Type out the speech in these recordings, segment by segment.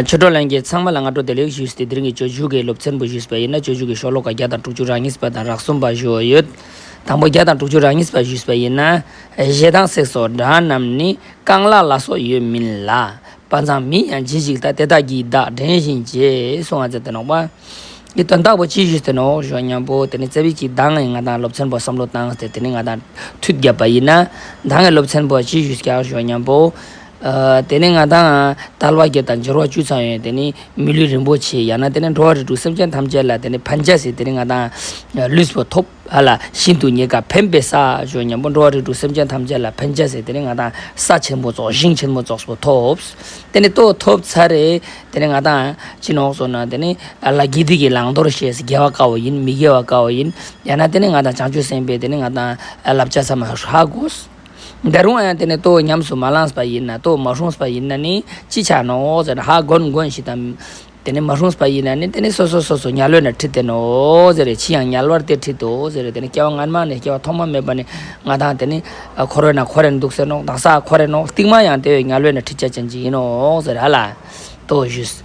ཆོས་གྲོགས་ལན་རྒྱས་ཚང་མ་ལ་སྔ་དྲོ་བདེ་ལེགས་ཞུས་ཏེ་དེ་རིང་གི་ཆོས་ཞུགས་ཀྱི་སློབ་ཚན་པོ་ཞུས་པ་ཡིན་ན་ཆོས་ཞུགས་ཀྱི་ཤོག་ལོ་ཀ་བརྒྱ་དང་དྲུག་ཅུ་རག་གཉིས་པ་དང་རག་གསུམ་པ་ཞུ་འོ་ཡོད། དང་པོ་བརྒྱ་དང་དྲུག་ཅུ་རག་གཉིས་པ་ཞུས་པ་ཡིན་ན། གཞས་དང་གསེག་སོགས་སྒྲ་རྣམས་ནི་རྐང་ལག་ལ་སོགས་ཡོད་མིན་ལ། དཔའ་མཛངས་མིན་ཡང་ཇི་ཞིག་ད་དེ་དག་གིས་བདག་དྲན་བཞིན་བྱས་སོང་བ་ཟེར་དེ་ནོག་པ། ཀྱི་དོན་དག་པོ་ཅི་ཞུས་དེ་ནོག་ཞོག་སྙམ་པོ་དེ་ནི་རྩེ་བས་ཀྱིས་ད་ངས་ང་དང་སློབ་ཚན་པོ་བསམ་བློ་བཏང་སྟེ་དེ་ནི་ང་དང་མཐུད་བརྒྱབ་པ་ཡིན་ན། ད་ངས་སློབ་ཚན་པོ་ལ་ཅི་ཞུས་ཀྱང་ཞོག་སྙམ་པོ། དེ་ནས་ང་དང། དར་བ་བརྒྱད་དང་སྦྱོར་བ་བཅུ་ཚང་ཡོད། དེ་ནི་མི་ལུས་རིན་པོ་ཆེ། ཡང་ན་དེ་ནི་འགྲོ་བ་རིགས་དྲུག་སེམས་ཅན་ཐམས་ཅད་ལ་དེ་ནི་ཕན་བྱ་ཟེར། དེ་ནི་ང་དང། ལུས་པོ་ཐོབ། ཧ་ལ། ཤིན་ཏུ་ཉེ་དགའ་ཕན་པའི་ས། ཅོ་སྙམ་པོ་འགྲོ་བ་རིགས་དྲུག་སེམས་ཅན་ཐམས་ཅད་ལ་ཕན་བྱ་ཟེར། དེ་ནི་ང་དང། ས་ཆེན་པོ་རྫོགས་ཤིང་ཆེན་མོ་རྫོགས་པོ་ཐོབ། དེ་ནི་ལྟོ་ཐོབ་ཚར་རེ། དེ་ནི་ང་དང། ཅི་ནོག་སོ་ན་དེ་ནི། ཨ་ལ་དགེ་སྡིག་གི་བླང་དོར་ཤེས། དགེ་བ་དཀའ་བ་ཡིན་མི་དགེ་བ་དཀའ་བ་ཡིན། ཡང་ན་དེ་ནི་ང་དང་བྱང་ཆུབ་སེམས་དཔའི་དེ་ནི་ང་དང། བསླབ་བྱ་ཚད་མ་ཧྲག་གོ། འདི་རུང་ཨན་དེ་ནི་ལྟོ་ཉམས་སུ་མ་བླངས་པ་ཡིན་ན་ལྟོ་མ་ཤོངས་པ་ཡིན་ན་ནི་ཅི་བྱ་ནོ་ཟེར་ན་ཧ་གོ་ནི་གོ་ནི་ཞིག་དང། དེ་ནི་མ་ཤོངས་པ་ཡིན་ན་ནི་དེ་ནི་སོ་སོ་སོ་སོ་ཉལ་ལོས་ན་ཁྲི་སྟེ་ནོ་ཟེར་རེ་ཕྱིས་ཡང་ཉལ་བར་ཏེ་ཁྲི་དོ་ཟེར་རེ་དེ་ནི་སྐྱེ་བ་སྔ་མ་ནས་སྐྱེ་བ་ཐོག་མ་མེད་པ་ནི་ང་དང་དེ་ནི་ཁོ་རོས་ན་ཁོ་རེ་ནི་འདུག་ཟེར་ནོ་དང་ས་ཁོ་རེ་ནོ་རྟིང་མ་ཡང་དེ་འོས་ཉལ་ལོས་ན་ཁྲི་བཅད་ཅན་གྱི་ཡིན་ནོ་ཟེར་ཧ་ལ་ལྟོ་བཞི།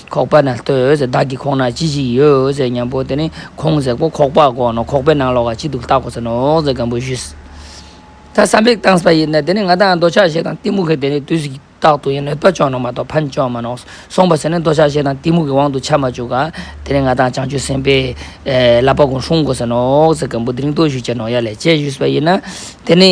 ཁོག་པ་ན་ལྟོས་ཟེར་བདག་གིས་ཁོག་ན་ཅི་ཞིག་ཡོད་ཟེར་སྙམ་པོ་དེ་ནི་ཁོང་ཟེར་ཁོ་ཁོག་པ་གོག་ནོ་ཁོག་པའི་ནང་ལོག་ག་ཅི་འདུག་བལྟ་གོ་ཟེར་ནོ་ཟེར་སྒམ་པོས་ཞུས། ད་བསམ་པའི་སྟངས་པ་ཡིན་ན་དེ་ནི་ང་དང་རྡོ་ཆག་ཤེས་དང་གཏི་མུག་གི་དེ་ནི་དུས་ཀྱི་རྟགས་དུ་ཡིན་ནོད་པ་ཅོག་ནོ་མ་གཏོགས་ཕན་ཅོག་མ་ནོགས་སོང་བ་ཟེར་ནས་རྡོ་ཆག་ཤེས་དང་གཏི་མུག་གི་དབང་དུ་ཆ་མ་བཅུག་ག་དེ་ནི་ང་དང་བྱང་ཆུབ་སེམས་དཔའི་བསླབ་པ་ཀུན་སྲུང་གོ་ཟེར་ནོ་ཟེར་སྒམ་པོ་དེ་རིང་རྟོག་ཞུ་བྱས་ནོ་ཡ་ལས་བྱས་ཞུས་པ་ཡིན་ན་དེ་ནི།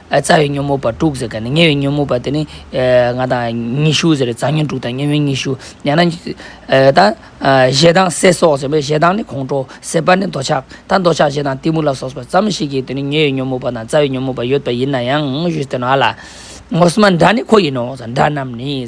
རྩ་བའི་ཉོན་མོངས་པ་དྲུག་ཟེར་ག་ནི་ཉེ་བའི་ཉོན་མོངས་པ་དེ་ནི། ང་དང་ཉི་ཤུ་ཟེར་རེད་རྩ་ཉོན་དྲུག་དང་ཉེ་བའི་ཉི་ཤུ། ཡང་ན། ད། ཞེ་སྡང་སྲེད་སོགས་ཟེར་བས་ཞེ་སྡང་ནི་ཁོང་ཁྲོ་སྲེད་པ་ནི་འདོད་ཆགས་དང་འདོད་ཆགས་ཞེ་སྡང་གཏི་མུག་ལ་སོགས་པ་ཙམ་ཞིག་གིས་དེ་ནི་ཉེ་བའི་ཉོན་མོངས་པ་དང་རྩ་བའི་ཉོན་མོངས་པ་ཡོད་པ་ཡིན་ན་ཡང། ངོ་བོ་རྣམས་ནི་ཁོ་ཡིན་ནོ། སྒྲ་རྣམས་ནི།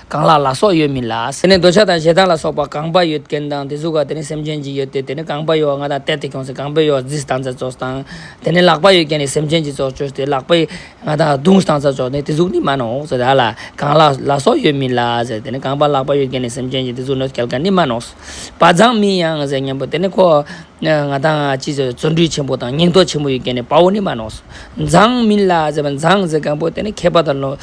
གང་ལ་ལ་སོགས་ཡོད་མིན་ལ། དེ་ནི་འདོད་ཆགས་དང་ཞེ་སྡང་ལ་སོགས་པ་གང་པ་ཡོད་རྐྱེན་དང་དེ་གཟུགས་ཀ་དེ་ནི་སེམས་ཅན་གྱི་ཡོད་དེ་དེ་ནི་གང་པ་ཡོད་ང་དང་གཏད་དེ་གྱོང་སེ་གང་པའི་ཡོད་རྫིས་དང་རྩལ་རྫོགས་དང། དེ་ནི་ལག་པ་ཡོད་རྐྱེན་ནི་སེམས་ཅན་གྱི་རྫོགས་བྱོས་ཏེ་ལག་པའི་ང་དང་གདུང་དང་རྩལ་རྫོགས་ནི་དེ་གཟུགས་ནི་མ་ནོག་ཟེར་ལ། གང་ལ་ལ་སོགས་ཡོད་མིན་ལ། དེ་ནི་གང་པ་ལག་པ་ཡོད་རྐྱེན་ནི་སེམས་ཅན་གྱི་དེ་གཟུགས་ནོད་སྐལ་ཀ་ནི་མ་ནོག། བ་ཛངས་མིན་ཡང་ཟེར་སྙམ་པོ་དེ་ནི་ཁོ། ང་དང་ཅི་ཟེར་བརྩོན་འགྲུས་ཆེན་པོ་དང་སྙིང་སྟོབས་ཆེན་པོ་ཡོད་མཁན་ནི་དཔའ་བོ་ནི་མ་ནོགས་སོ། མཛངས་མིན་ལ་ཟེར་བ་མཛངས་ཟེར་གང་པོ་དེ་ནི་མཁས་པ་དང་ལོ་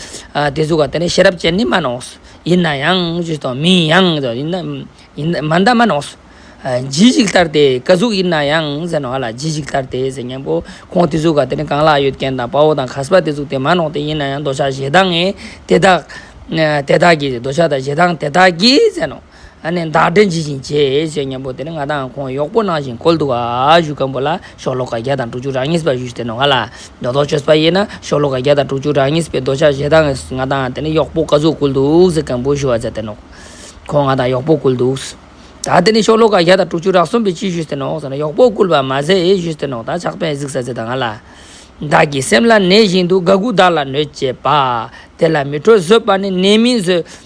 དེ་གཟུགས་བ་དེ་ནི་ཤེས་རབ་ཅན་ནི་མ་ནོགས་སོ། ཡིན་ན་ཡང་ཅི་དང་མིན་ཡང་ཅི་དང་ཡིན་ན་མ་འདའ་མ་ནོགས་སོ། ཇི་ཞིག་ལྟར་དེ་ཀ་གཟུགས་ཡིན་ན་ཡང་ཟེར་ནོ་ཨ་ལ་ཇི་ཞིག་ལྟར་དེ་ཟེར་སྙམ་པོ་ཁོང་དེ་གཟུགས་བ་དེ་ནི་གང་ལ་ཡོད་མཁན་དང་དཔའ་བོ་དང་ཁ་སྦ་དེ་གཟུགས་དེ་མ་ནོགས་དེ་ཡིན་ན་ཡང་འདོད་ཆགས་ཞེ་སྡང་ངས་དེ་དག་དེ་དག་གིས་འདོད་ཆགས་དང་ཞེ་སྡང་དེ་དག་གིས་ཟེར་ནོ། ནས་བདག་སྒྲའི་འཇིག་ཅིང་བཅས་ཞེས་སྙན་པོ་དེར་ང་དང་ཁོང་གཡོག་པོ་གནང་ཞིང་གོལ་འདུག་གཞུག་སྐམ་པོ་ལ་ཤོག་ལོ་ཀ་བརྒྱ་དང་དྲུག་ཅུ་རག་གཉིས་པ་བཞུགས་ཏེ་ནོ་ང་ལ་རྡོ་ཐོག་ཆོད་པ་ཡིན་ན་ཤོག་ལོ་ཀ་བརྒྱ་དང་དྲུག་ཅུ་རག་གཉིས་པའི་རྡོ་ཆ་བཞེས་དང་ང་དང་དེ་ནས་གཡོག་པོ་ག་ཚོད་བསྐུལ་འདུག་ཟེར་སྐམ་པོས་ཞུ་བ་མཛད་དེ་ནོ། ཁོང་ང་དང་གཡོག་པོ་བསྐུལ་འདུག། ད་དེ་ནས་ཤོག་ལོ་ཀ་བརྒྱ་དང་དྲུག་ཅུ་རག་གསུམ་པས་ཅི་ཞུས་ཟེར་ནོ་ཟེར་ན་གཡོག་པོ་བསྐུལ་བ་མ་ཟད་ཞུས་ཟེར་ནོ་ད་ཕྱག་དཔེ་གཟིགས་ས་ཟེར་དང་ང་ལ། བདག་གི་སེམས་ལ་ནད་བཞིན་དུ་དགའ་དགུ་བདག་ལ་གནོད་ཅེས་པ། དེ་ལ་མི་འཕྲོད་བཟོད་པ་ནི་ནད་མིན་བཟོད།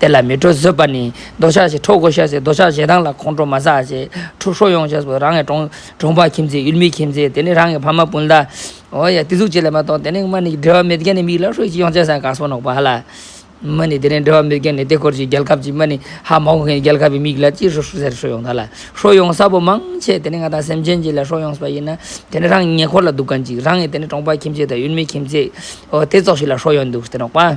དེ་ལ་མི་འགྲོ་བཟོད་པ་ནི་རྡོ་ཆག་ཞེ་ཁྲོ་གོ་ཤ་ཟའི་རྡོ་ཆག་ཞེ་སྡང་ལ་ཁོང་ཁྲོ་མ་ཟ་ཞེས་ཁྲོ་ཁྲོ་ཡོང་བྱས་སོ་རང་གི་གྲོང་གྲོང་པ་ཁྱིམ་མཚེས་ཡུལ་མི་ཁྱིམ་མཚེས་དེ་ནི་རང་གི་ཕ་མ་སྤུན་ཟླ། འོ་ཡ་དེ་ཟུག་ཅིག་ལས་མ་གཏོགས་དེ་ནི་མ་ནི་འབྲེལ་བ་མེད་མཁན་ནི་མིག་ལ་ཧྲུལ་གྱིས་ཡོང་བྱས་སང་ག་སོང་ནོག་པ་ཧ་ལ། མ་ནི་དེ་ནི་འབྲེལ་བ་མེད་མཁན་ནི་དེ་འཁོར་གྱི་རྒྱལ་ཁབ་ཀྱི་མ་ནི་ཧ་མ་གོ་མཁན་རྒྱལ་ཁབ་པའི་མིག་ལ་ཅི་ཧྲུལ་ཟེར་ཧྲུལ་ཡོང་ད་ལ་ཧྲུལ་ཡོང་ས་པོ་མང་ཆེ་དེ་ནི་ང་དང་སེམས་ཅན་གྱི་ལ་ཧྲུལ་ཡོང་ས་པ་ཡིན་ན་དེ་ནི་རང་གི་ཉེ་འཁོར་ལ་འདུག་ག་འཇིག་རང་གི་དེ་ནི་གྲོང་པ་ཁྱིམ་མཚེས་དང་ཡུལ་མི་ཁྱིམ་མཚེས་འོ་དེ་ཙོག་ཞིག་ལ་ཧྲུལ་ཡོང་འདུག་སྟེ་ནོག་པ།